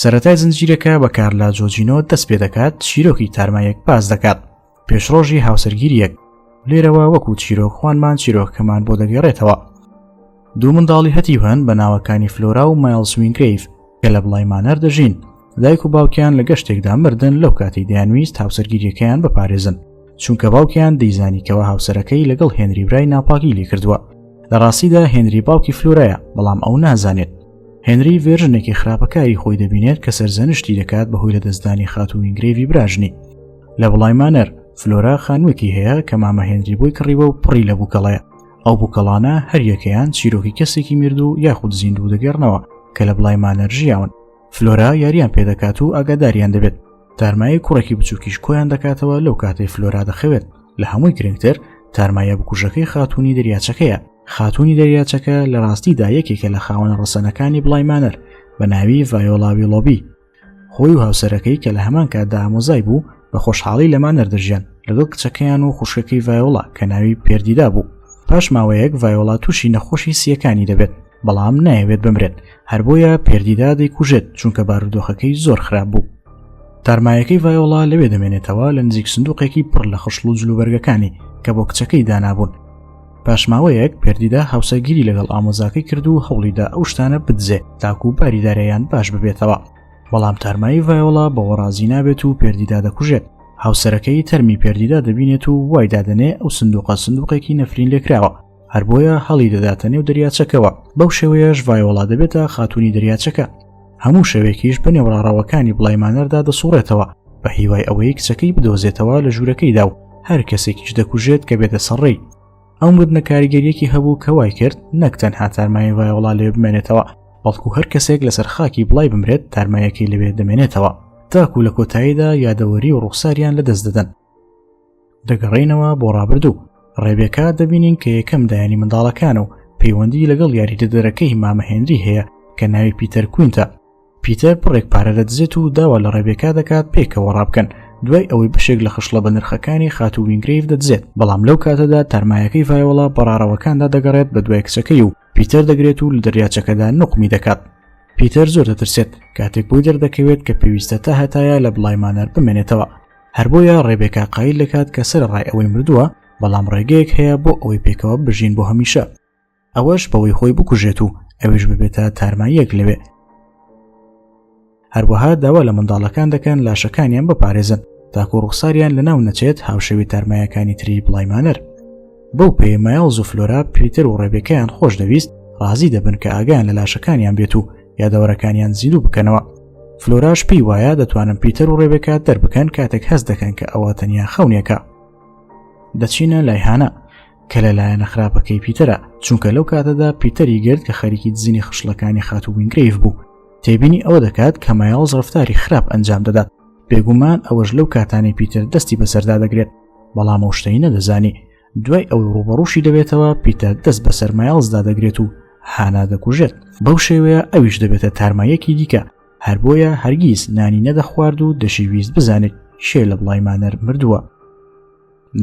سەتای زنجیرەکە بە کارلا جۆجینۆ دەست پێ دەکات چیرۆکی تارمایەک پاس دەکات پێشڕۆژی هاوسەرگیریەک لێرەوە وەکو چیرۆک خوانمان چیرۆکەمان بۆ دەگەڕێتەوە دوو منداڵی هەتی هەن بە ناوەکانی فلۆرا و مایلسوینگریف کە لە بڵای مانەر دەژین دایک و باوکیان لە گەشتێکدا مردن لەو کاتی دەیانویست هاوسەرگیریەکەیان بپارێزن چونکە باوکیان دەیزانیکەوە هاوسەرەکەی لەگەڵ هێنری برای ناپاگی لێ کردووە لە ڕاستیدا هێنری باوکی فلورەیە بەڵام ئەو نازانێت هێنری ڤێژنێکی خراپەکاری خۆی دەبینێت کە سەرزەنشتی دەکات بەهۆی لە دەستدانی خاتووی گرێوی براژنی لە بڵای مانەر فلۆرا خانوویەکی هەیە کە مامە هێنری بۆی کڕیوە و پڕی لە بووکەڵەیە ئەو بووکەڵانە هەریەکەیان چیرۆکی کەسێکی مرد و یاخود زیندوو دەگەڕنەوە کە لە بڵای مانەرژیاون فلۆرا یاریان پێدەکات و ئاگاداریان دەبێت تارمایی کوڕێکی بچووکیش کۆیان دەکاتەوە لەو کاتەی فلۆرا دەخەوێت لە هەمووی گرنگتر تارمایە بکوژەکەی خاتونی دەریاچەکەیە خاتوونی دەریاچەکە لە ڕاستیدا یەکێکە لە خاوەنە ڕەسەنەکانی بڵای مانەر بە ناوی ڤایۆلاوی لۆبی خۆی و هاوسەرەکەی کە لە هەمان کاتدا ئامۆزای بوو بە خۆشحاڵی لە مانەر دەژیان لەگەڵ کچەکەیان و خوشکەکەی ڤایۆڵا کە ناوی پێردیدا بوو پاش ماوەیەک ڤایۆڵا تووشی نەخۆشی سیەکانی دەبێت بەڵام نایەوێت بمرێت هەر بۆیە پێردیدا دەیکوژێت چونکە بارودۆخەکەی زۆر خراپ بوو تارمایەکەی ڤایۆڵا لەوێ دەمێنێتەوە لە نزیک سندوقێکی پڕ لە خشڵ و جلوبەرگەکانی کە بۆ کچەکەی دانابوون پاشماوەیەک پردیدا هاوسەرگیری لەگەڵ ئامۆزاکەی کرد و هەوڵیدا ئەو شتانە بدزێ تاکو و باری دارەیان باش ببێتەوە بەڵام تارمایی ڤایۆڵا بەوە ڕازی نابێت و پردیدا دەکوژێت هاوسەرەکەی تەرمی پردیدا دەبینێت و وای دادنێ ئەو سندوقە سندوقێکی نەفرین لێکراوە هەر بۆیە هەڵی دەداتە نێو دەریاچەکەوە بەو شێوەیەش ڤایۆڵا دەبێتە خاتونی دەریاچەکە هەموو شەوێکیش بە نێوڕاڕەوەکانی بڵای مانەردا دەسوڕێتەوە بە هیوای ئەوەی کچەکەی بدۆزێتەوە لە ژوورەکەیدا و هەر کەسێکیش دەکوژێت کە بێتە سەڕێی ئەو مردنە کاریگەریەکی هەبوو کە وای کرد نەک تەنها تارمای وای وڵا لێ بمێنێتەوە بەڵکو هەر کەسێک لەسەر خاکی بڵای بمرێت تارمایەکەی لەوێ دەمێنێتەوە تاکو لە کۆتاییدا یادەوەری و ڕوخساریان لە دەست دەدەن دەگەڕینەوە بۆ ڕابردوو ڕێبێکا دەبینین کە یەکەم دایانی منداڵەکان و پەیوەندی لەگەڵ یاریدەدەرەکەی مامەهێنری هەیە کە ناوی پیتەر کوینتە پیتەر پڕێک پارە دەدزێت و داوا لە ڕێبێکا دەکات پێکەوە ڕابکەن دوای ئەوەی بەشێک لە خشڵە بە نرخەکانی خاتو وینگریف دەدزێت بەڵام لەو کاتەدا تەرمایەکەی ڤایۆڵا بەڕارەوەکاندا دەگەڕێت بە دوای کچەکەی و پیتەر دەگرێت و لە دەریاچەکەدا نقمی دەکات پیتەر زۆر دەترسێت کاتێک بۆی دەردەکەوێت کە پێویستە تا هەتایە لە بڵایمانەر بمێنێتەوە هەر بۆیە ڕێبێکا قایل دەکات کە سەرەڕای ئەوەی مردووە بەڵام ڕێگەیەک هەیە بۆ ئەوەی پێکەوە بژین بۆ هەمیشە ئەوەش بەوەی خۆی بکوژێت و ئەویش ببێتە تارماییەک لەوێ هەروەها داوا لە منداڵەکان دەکەن لاشەکانیان بپارێزن تاکو ڕوخساریان لە ناو نەچێت هاوشەوی تارمایەکانی تری بڵایمانەر بەو پێی مایڵز و فلۆرا پیتەر و ڕێبێکەیان خۆش دەویست ڕازی دەبن کە ئاگیان لە لاشەکانیان بێت و یادەوەرەکانیان زیندوو بکەنەوە فلۆراش پێی وایە دەتوانم پیتەر و ڕێبێکا دەربکەن کاتێک هەست دەکەن کە ئەوە تەنیا خەونێکە دەچینە لای هانا کە لە لایەنە خراپەکەی پیتەرە چونکە لەو کاتەدا پیتەری گرت کە خەریکی دزینی خشلەکانی خاتو وینگریف بوو تێبینی ئەوە دەکات کە مایاڵز ڕفتاری خراپ ئەنجام دەدات بێگومان ئەوەش لەو کاتانی پیتەر دەستی بەسەردا دەگرێت بەڵام ئەو شتەی نەدەزانی دوای ئەو ڕوبەڕوشی دەبێتەوە پیتە دەست بە سەرمایڵزدا دەگرێت و هانا دەکوژێت بەو شێوەیە ئەویش دەبێتە تارمایەکی دیکە هەر بۆیە هەرگیز نانی نەدەخوارد و دەشیویست بزانێت شێ لە بڵای مانەر مردووە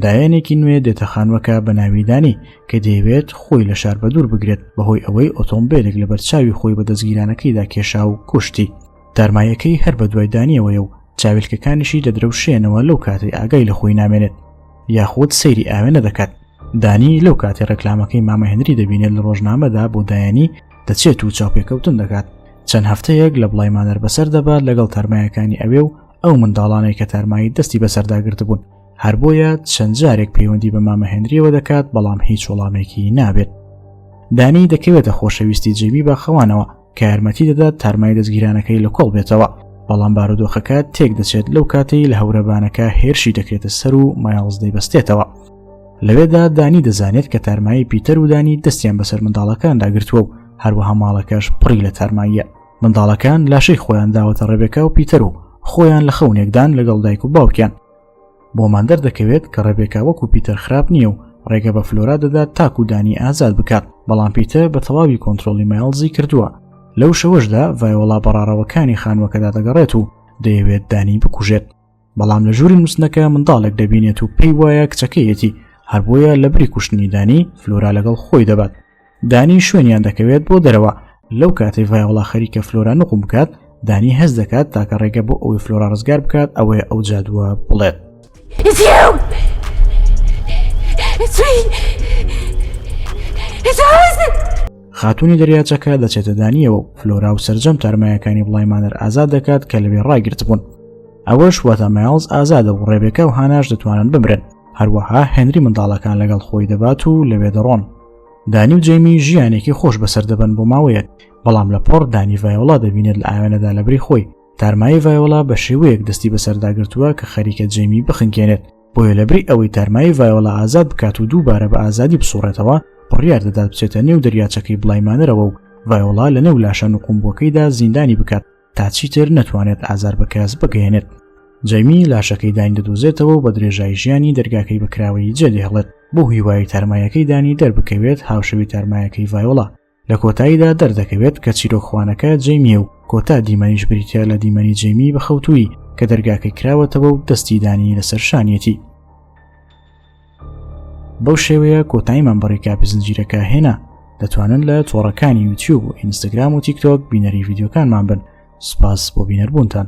دایەنێکی نوێ دێتە خانوەکە بە ناویدانی کە دەیەوێت خۆی لە شار بە دوور بگرێت بەهۆی ئەوەی ئۆتۆمبیلێک لە بەرچاوی خۆی بە دەستگیرانەکەیدا کێشا و کوشتی تارماییەکەی هەر بە دوای دانیەوەیە و چاویلکەکانیشی دەدرەوشێنەوە لەو کاتەی ئاگای لە خۆی نامێنێت یاخود سەیری ئاوێنە دەکات دانی لەو کاتی ڕێکلامەکەی مامەهێنری دەبینێت لە ڕۆژنامەدا بۆ دایانی دەچێت و چاوپێکەوتن دەکات چەند هەفتەیەک لە بڵای مانەر بەسەر دەبات لەگەڵ تارمایەکانی ئەوێ و ئەو منداڵانەی کە تارمایی دەستی بەسەرداگررت بوون هەر بۆیە چەند جارێک پەیوەندی بە مامەهێنریەوە دەکات بەڵام هیچ وەڵامێکی نابێت دانی دەکەوێتە خۆشەویستی جێبی بە خەوانەوە کە یارمەتی دەدات تارمای دەستگیرانەکەی لە کۆڵ بێتەوە بەڵام بارودۆخەکە تێک دەچێت لەو کاتەی لە هەورەبانەکە هێرشی دەکرێتە سەر و مایاڵز دەیبەستێتەوە لەوێدا دانی دەزانێت کە تارمایی پیتەر و دانی دەستیان بەسەر منداڵەکان داگرتووە و هەروەها ماڵەکەش پڕی لە تارماییە منداڵەکان لاشەی خۆیان داوەتە ڕێبێکا و پیتەر و خۆیان لە خەونێکدان لەگەڵ دایک و باوکیان بۆمان دەردەکەوێت کە ڕێبێکا وەکو پیتەر خراپ نییە و ڕێگە بە فلۆرا دەدات تاکو دانی ئازاد بکات بەڵام پیتە بە تەواوی کۆنتترۆلی مایلزی کردووە لەو شەوەشدا ڤایۆڵا بەڕارەوەکانی خانوەکەدا دەگەڕێت و دەیەوێت دانی بکوژێت بەڵام لە ژووری نووسنەکە منداڵێک دەبینێت و پێی وایە کچەکەیەتی هەربۆیە لە بری کوشتنیدانی فلۆرا لەگەڵ خۆی دەبات دانی شوێنیان دەکەوێت بۆ دەرەوە لەو کاتەی ڤایۆڵا خەریکە فلۆرا نقوم بکات دانی هەز دەکات تاکە ڕێگە بۆ ئەوەی فلۆرا ڕزگار بکات ئەوەیە ئەو جادووە بڵێت خاتونی دەریاچەکە دەچێتە دانیەوە و فلۆرا و سرجەم تارمایەکانی بڵای مانەر ئازاد دەکات کە لەوێ ڕاگررت بوون ئەوەش وەتە مایڵز ئازادە و ڕێبێکە و هاناش دەتوانن بمرن هەروەها هێنری منداڵەکان لەگەڵ خۆی دەبات و لەوێ دەڕۆن دانی و جەیمی ژیانێکی خۆش بەسەر دەبن بۆ ماوەیەک بەڵام لە پۆڕ دانی ڤایۆڵا دەبینێت لە ئاوێنەدا لەبری خۆی تارمایی ڤایۆڵا بە شێوەیەک دەستی بەسەرداگرتووە کە خەریکە جەیمی بخنکێنێت بۆیە لەبری ئەوەی تارمایی ڤایۆڵا ئازاد بکات و دووبارە بە ئازادی بسوڕێتەوە بڕیار دەدات بچێتە نێو دەریاچەکەی بلایمانەرەوە و ڤایۆڵا لە نێو لاشە نقومبووەکەیدا زیندانی بکات تا چیتر نەتوانێت ئازار بە کەس بگەێنێت جەمی لاشەکەی داین دەدوزێتەوە و بە درێژایی ژیانی دەرگاکەی بەکراوەی جێدەهڵێت بۆ هیوایی تارمایەکەی دانی دەربکەوێت هاوشەوی تارمایەکەی ڤایۆڵا لە کۆتاییدا دەردەکەوێت کە چیرۆکخوانەکە جەمیە و کۆتا دیمەنیش بریتە لە دیمەنی جەمی بەخەوتووی کە دەرگاکەی کراوەتەوە و دەستی دانی لەسەر شانیەتی بەو شێوەیە کۆتاییمان بە ڕێکاپی زنجیرەکە هێنا دەتوانن لە تۆڕەکانی یوتیوب و ئینستاگرام و تیکتۆک بینەری یددیوکانمان بن سپاس بۆ بینەربوونتان